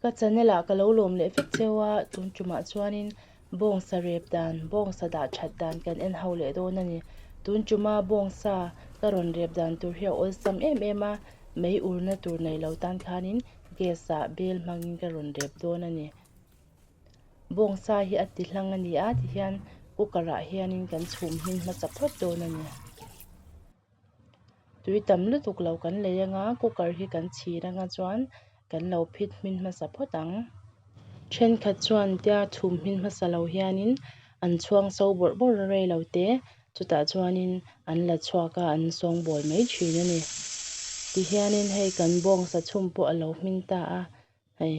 Ka chanela ka lo lawm leh vek cheu a, tun tumah chuanin bawngsa rep dan, bawngsa dah that dan kan en ho leh dawn a ni. Tun tuma bawngsa ka rawn rep dan tur hi a awlsam em em a, mei urna tur nei lo tan khanin gas ah bel hmangin ka rawn rep dawn a ni. Bawng sa hi a ti hlang a ni a ti hian cooker ah hian in kan chhum hi hmasa phawt dawn a ni. Tui tam lutuk lo kan lei ang a cooker hi kan chhir anga chuan kan lo phit hmin hmasa phawt ang. Thenkhat chuan tia chhum hmin hmasa lo hian in an chhuang so bawrh bawrh a rei lo te chutah chuan in an la chhuak a an sawng bawl mai thin a ni. Ti hian in hei kan bawng sa chhum pawh a lo hmin ta a hei.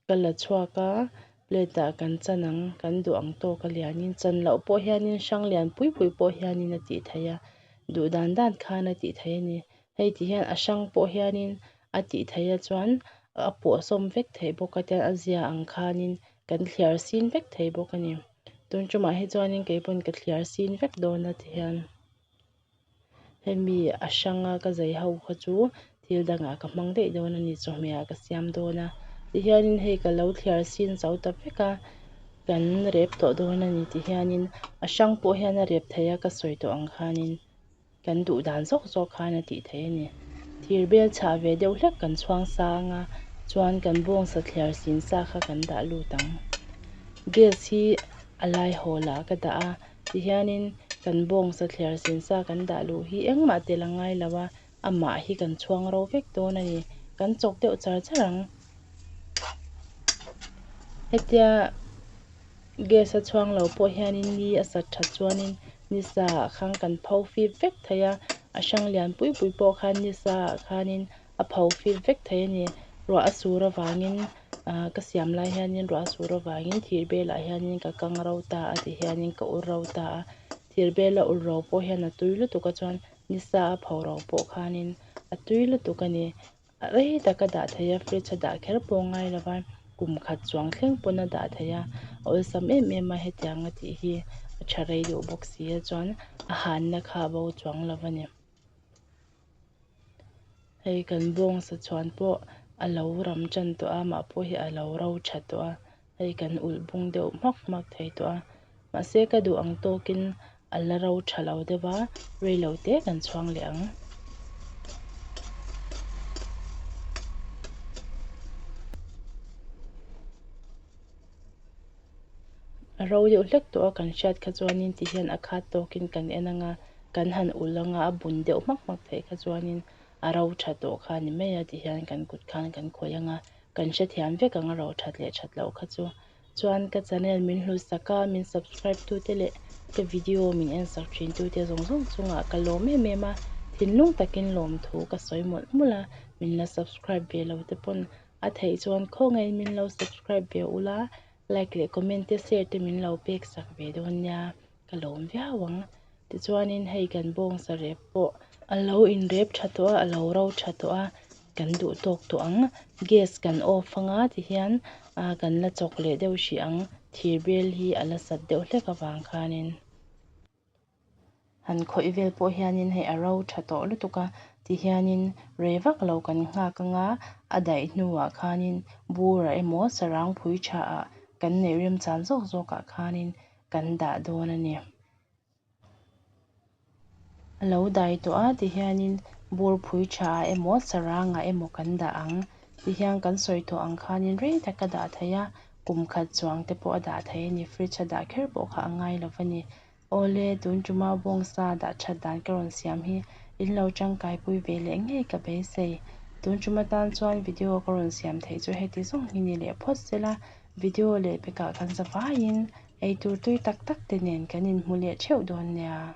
Ka la chhuak a, plate ah kan chan ang, kan duh ang tawk a lianin chan loh pawh hianin hrang lian pui pui pawh hianin a tih theih a, duh dan dan khan a tih theih a ni. Hei ti hian a hrang pawh hianin a tih theih a chuan a puahsawm vek theih bawk a tian a zia ang khanin kan thliar sin vek theih bawk a ni. Tumchumah hi chuanin kei pawn ka thliar sin vek dawn a ti hian. Hemi a hrang a, ka zai ho kha chu thil dangah ka hmang daih dawn a ni, chawhmeh ah ka siam dawn a, ti hianin hei ka lo thliar sin chau ta vek a, kan rep tawh dawn a ni ti hianin a hrang pawh hian a rep thei a, ka sawi tawh ang khanin kan duh dan zawk zawk khan a tih thei a ni. Thir bel chhah ve deuh hlek kan chhuang sa ang a, chuan kan bawng sa thliar sin sa kha kan dah lut ang. Gas hi a lai haw lah ka dah a, tihianin kan bawngsa thler sin sa kan dah luh hi engmah tel a ngai lo a, amah hi kan chhuang ro vek dawn a ni. Kan chawk deuh char char ang. Hetia gas a chhuang lo pawh hianin ni a sat tha chuanin ni sa ah khan kan pho fip vek thei a, a hrang lian pui pui pawh khan ni sa ah khanin a pho fît vek thei a ni. Ruah a sûr avângin aah ka siam lai hianin ruah a sûr avângin thîr bêlah hianin ka kang ro ta a tih hianin ka ur ro ta a. Thîr bêla ur ro pawh hian a tui lutuk a chuan nisa a pho ro pawh khânin a tui lutuk a ni. A rei tak a dah thei a, fridge a dah kher pawh ngai lo va, kum khat chuang thleng pawn a dah thei a. A awlsam em em a hetiang a tih hi a ṭha rei duh bawk si a, chuan a hânna kha a bo chuang lo a ni. Hei kan bawngsa chuan pawh a lo ram tan tawh a, mah pawh hi a lo ro tha tawh a, hei kan ulh bung deuh hmak hmak thei tawh a. Mahse, ka duh ang tawkin a la ro tha lo deuh a, rei lo te kan chuang leh ang. A ro deuh hlek tawh a kan hriat kha chuanin ti hian a khat tawkin kan en anga kan han ulh anga a bun deuh hmak hmak theih kha chuanin a ro tha tawh kha ni mai a ti hian kan kut khan kan khawih anga kan hrethiam vek ang a ro that leh that loh kha chu chuan ka channel min hlusak a min subscribe tu te leh ka video min en sak thin tu te zawng zawng chungah ka lawm em em a thinlung takin lawmthu ka sawi mawlh mawlh a min la subscribe ve lo te pawn-- a theih chuan khawngaiin min lo subscribe ve ula like leh comment te share te min lo pek sak ve dawn nia ka lawm viau ang tichuanin hei kan bawng sarep pawh a lo inrep tha tawh a a lo ro tha tawh a kan duh tawk tawh ang gas kan off anga tihian ah kan la chawk leh deuh hrih ang thir bel hi a la sat deuh hlek avang khanin. Han khawih vel pawh hianin hei a ro tha tawh lutuk a, ti hianin rei vak lo kan nghak anga a daih hnuah khanin bura emaw sarangpui thaah kan neih remchan zawk zawkah khanin kan dah dawn a ni. A lo dai tawh a ti hianin bur phui thaah emaw sarangah emaw kan dah ang ti hian kan sawi tawh ang khanin rei taka dah theih a, Kum khat chuang te pawh a dah thei a ni, fridge a dah kher pawh kha a ngai lo va ni. Awle, tun tumau bawng sa dah that dan ka rawn siam hi, in lo tangkai pui ve leh ngei ka beisei. Tun tum atan chuan video ka rawn siam theih chu heti zawng hi ni leh phawt sela, video leh pekah kan za vaiin eitur tui tak tak te nen kan inhmu leh theuh dawn nia.